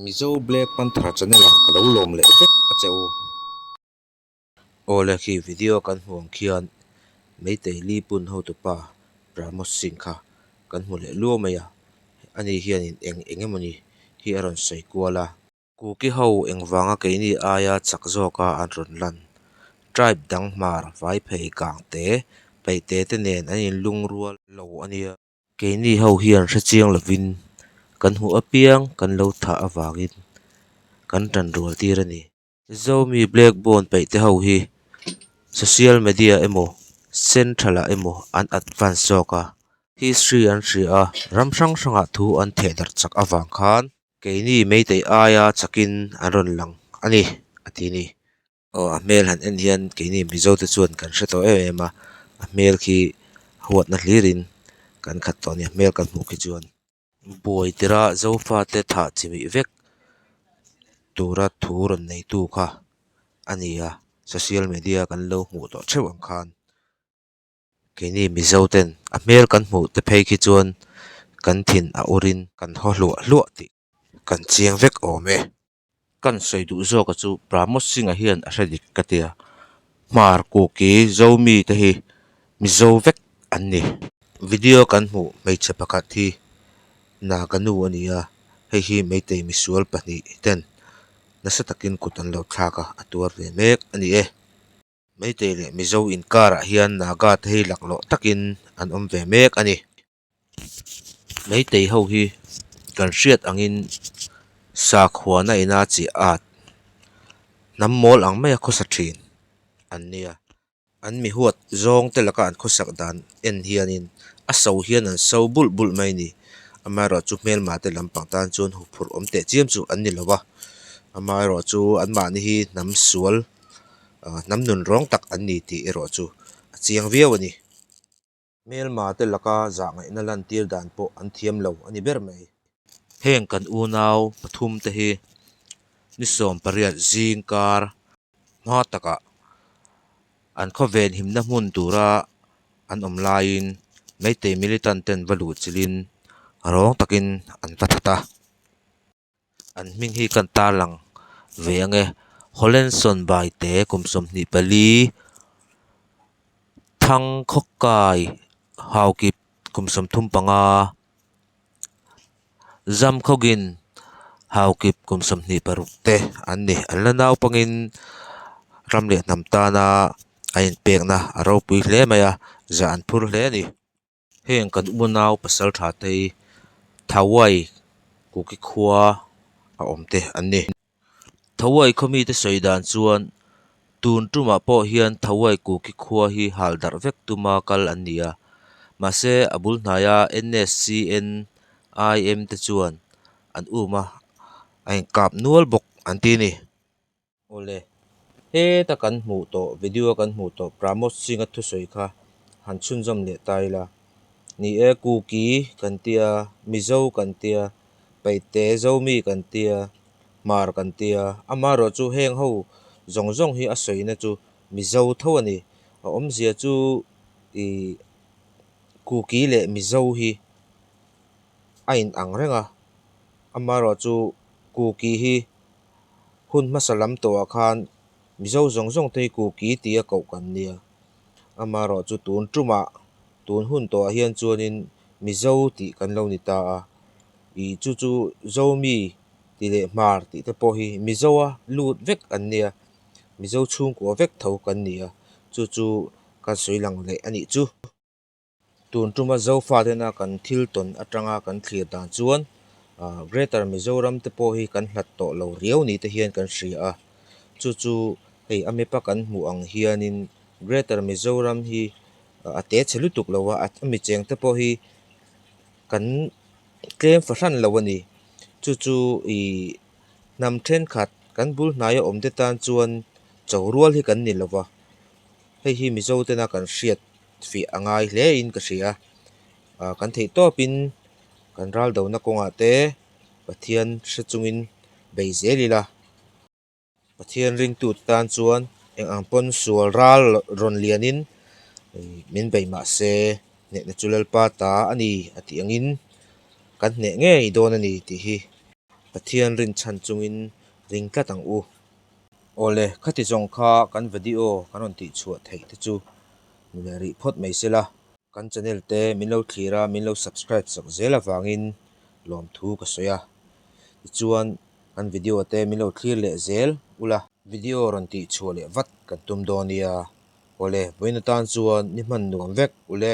Mizo Black Panther channel ah ka lo lawm leh vek a che u. Awle khi video kan hmuh ang khian Meitei Li Pun hotu pa Pramod Singh kha kan hmu leh luau mai a, ani hian in eng eng emaw ni hi a rawn sawi kual a. Kuki ho engvanga keini aia chak zawka an rawn lan. Tribe dang hmar, vai phei, kangte, peihte te nen an in lungrual lo a nia. Keini ho hian hrechiang lovin kan hmuh apiang kan lo thah avangin kan tan rual tir a ni. Zomi Blackbone peih te ho hi social media emaw central ah emaw an advance zawk a, history an hria a, ram hrang hrangah thu an thehdarh chak avang khan keini meitei aia chakin an rawn lang a ni a ti a ni. aw a hmel han en hian keini mizo te chuan kan hre tawh em em a a hmel khi huat na hlir in kan khat tawh a ni a hmel kan hmuh khi chuan buai tira zofa te thah chimih vek tura thu rawn nei tu kha a ni a social media kan lo hmuh tawh theuh ang khan keini mizo ten a hmel kan hmuh te phei khi chuan kan thin a ur in kan haw hluah hluah tih-- kan chiang vek awm e. Kan sawi duh zawka chu Pramod Singha hian a hre dik ka tia. Hmar Kuki, Zomi te hi Mizo vek an ni. Video kan hmuh hmeichhe pakhat hi Naga nu a ni a, hei hi Meitei misual pahnih ten nasa takin kut an lo thlak a, a tuar ve mek a ni e. Meitei leh Mizo inkarah hian Naga te hi laklawh takin an awm ve mek a ni. Meitei ho hi kan hriat angin sakhuana ina chiah at hnam mawl ang maia khawsa thin an nia. An mihuat zawng te laka an khawsak dan en hianin a so hian an so bulh bulh mai ni. Amaherawh chu hmelma te lampang tan chuan huphurh awm teh chiam chu an ni lo va, amaherawh chu anmahni hi hnam sual hnam nunrawng tak an ni tih erawh chu a chiang viau a ni. Hmelmate laka zahngaihna lantir dan pawh an thiam lo a ni ber mai. Heng kan unau pathum te hi ni sawm pariat zing kar hma takah an khawvenhimna hmun tura an awm laiin Meitei militant-ten va luh chilhin râwng takin an va that a. An hming hi kan tarlang ve ang e, Holenson Baite, kum sawmhnih pali, Thangkhawkai Haokip, kum sawm thum panga, Zamkhogin Haokip, kum sawmhnih paruk te an ni. An la naupangin ram leh hnam tana a inpekna a ropui hle mai a, zah an phur hle a ni. Heng kan uma nau pasal tha te hi Thawai Kuki khua a awm te an ni. Thawai khaw mi te sawi dan chuan tun tumah pawh hian Thawai Kuki khua hi hal darh vek tuma kal an ni a, mahse a bul hnaia NSCNIM te chuan an um a, a inkap nual bawk an ti a ni. Awle. Heta kan hmuh tawh, video a kan hmuh tawh Pramod Singha thusawi kha han chhunzawm leh ta ila. Ni e, Kuki kan tia, Mizo kan tia, Paihte, Zomi kan tia, Hmar kan tia. Amaherawh chu heng ho zawng zawng hi a sawina chu Mizo tho a ni. A awmzia chu i Kuki leh Mizo hi a inang reng a. Amaherawh chu Kuki hi. Hun hmasa lam tawhah khan Mizo zawng zawng te hi kuk i ti a koh kan nia. Amaherawh chu tun tumah, tun hun tawhah hian chuanin Mizo tih kan lo ni ta a. Ih chu chu Zomi tih leh Hmar tih te pawh hi Mizoa lut vek an nia, Mizo chhungkua vek tho kan ni a, chu chu kan sawi lang leh a nih chu. Tun tuma Zofa tena kan thil tawn atanga kan thlir dan chuan Greater Mizoram te pawh hi kan hlat tawh lo riau ni te hian kan hria a, chu chu hei a map a kan hmuh ang hianin Greater Mizoram hi a te chhe lutuk lo a, a mi cheng te pawh hi kan tlem fa hran lo a ni, chu chu ih hnam thenkhat kan bul hnaia awm te tan chuan chorual hi kan ni lova, hei hi Mizo tena kan hriat fiah a ngai hle in ka hria. Aaa kan theih tawp in kan ral do na kawng ah te Pathian hre chung in bei zel ila. Pathian ring tu te tan chuan eng ang pawn sual ral rawn lian in min bei mah se hneh na chu lalpa ta a ni a tih ang in kan hneh ngei dawn a ni tih hi Pathian rin chhan chung in ring tlat ang u. Awle, khati zawng kha kan video kan rawn tih chhuah theih te chu min rih phawt mai se la. Kan channel te min lo thlir a, min lo subscribe chak zel avangin lawmthu ka sawi a. Tichuan, kan video te min lo thlir leh zel ula. Video rawn tih chhuah leh vat kan tum dawn nia. Awle, vawiin atan chuan ni hman nuam vek ule.